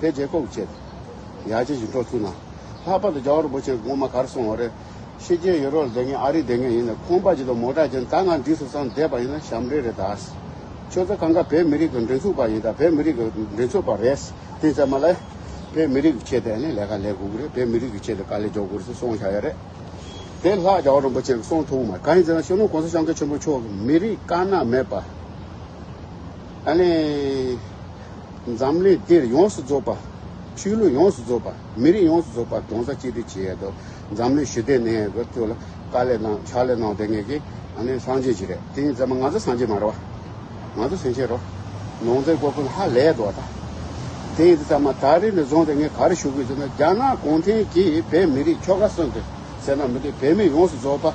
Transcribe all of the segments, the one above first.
དེ་རྗེས་ལྐོག་བྱས་ཏེ་ཡ་གྱལ་ཞིག་འགྲོ་ཐུག་ན། ལྷག་པར་དུ་རྒྱ་གར་བུ་ཆེན་གོང་མ་གར་སོང་བ་རེད། ཕྱི་རྒྱལ་ཡོད་རོགས་ལྡེ་ངས་ཨ་རིར་བསྡད་མཁན་ཡིན་ནས་ཁོང་པ་ཇི་ལྟར་མོ་གྲགས་ཅན་ད་ང་འདི་སུ་སང་བསྡད་པ་ཡིན་ན་ཞབས་འདྲེན་རེད་ད། ཁྱོད་ཚོ་གང་ག་བོད་མི་རིགས་ཀྱི་འགྲན་ཚུགས་པ་ཡིན་ད་བོད་མི་རིགས་ཀྱི་འགྲན་ཚུགས་པ་རེད་དེ་ཚད་མ་ལ། བོད་མི་རིགས་ཀྱི་ཆེད་དེ་ནས་ལས་ཀ་ལས་དགོས་ཀྱི་རེད་བོད་མི་རིགས་ཀྱི་ཆེད་དེ་དཀའ་ལས་འཇོག་དགོས་རེད་ཟེར་སོང་བཞག་ཡ་རེད། དེ་ལྷག་རྒྱ་གར་རིན་པོ་ཆེ་སོང་ཐུག་མ་ག་ཡིན་ཟེར་ན་ཤོ་ལོང་གོང་ས་ཤང་ཀེ་ཆེན་པོ་མཆོག་གི་མི་རིགས་དཀར་ནག་མེད་པ། ཨ་ལེ། འཛམ་གླིང་འདིར་ཡོངས་སུ་རྫོགས་པ། ཆོས་ལུགས་ཡོངས་སུ་རྫོགས་པ། མི་རིགས་ཡོངས་སུ་རྫོགས་པ་གདོན་ས་གཅིག་དེ་བྱེད་ཡས་དོ། འཛམ་གླིང་ཞི་བདེ་གནས་ཡས་དགོས་ཁྱོད་ལ་དཀའ་ལས་གནང་ཕྱག་ལས་གནང་དེ་ངས་ཀྱི་ཨ་ནི་སངས་རྒྱས་བྱེད་རེད་དེ་ཡིན་ཙང་མ་ང་ཚོ་སངས་རྒྱས་མ་རེད་བ། ང་ཚོ་སེང་ཆེན་རོགས། ནོངས་ཙེ་ཀོ་ཀུན་ཧ་ལས་ཡས་དོ་བ་ད། དེ་ཡིན་དེ་ཙང་མ་ད་རེས་ནས་བཟུང་སྟེ་ངས་ག་རེ་ཞུ་གི་ཡོད་ཟེར་ན་རྒྱ་ནག་གུང་ཁྲན་གྱིས་བོད་མི་རིགས་ཁྱོ་ག་གསོན་ཏེ་ཟེར་ན་མི་འདུག་བོད་མི་ཡོངས་སུ་རྫོགས་པ།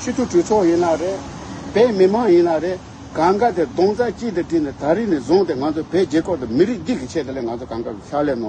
ཕྱི་དྲོ་གྲོས་ཚོགས་ཡིན་ན་རེད། བོད་མི་མང་ཡིན་ན་རེད། གང་དགའ་དེར་གདོང་རྩ་གཅིག་ཏུ་དྲིལ་ནས་ད་རིས་ནས་བཟུང་སྟེ་ང་ཚོ་བོད་རྒྱལ་ཁབ་དང་མི་རིགས་སྡིག་གི་ཆེད་དུ་ལས་ང་ཚོ་གང་དགའ་བའི་ཕྱག་ལས་གནང།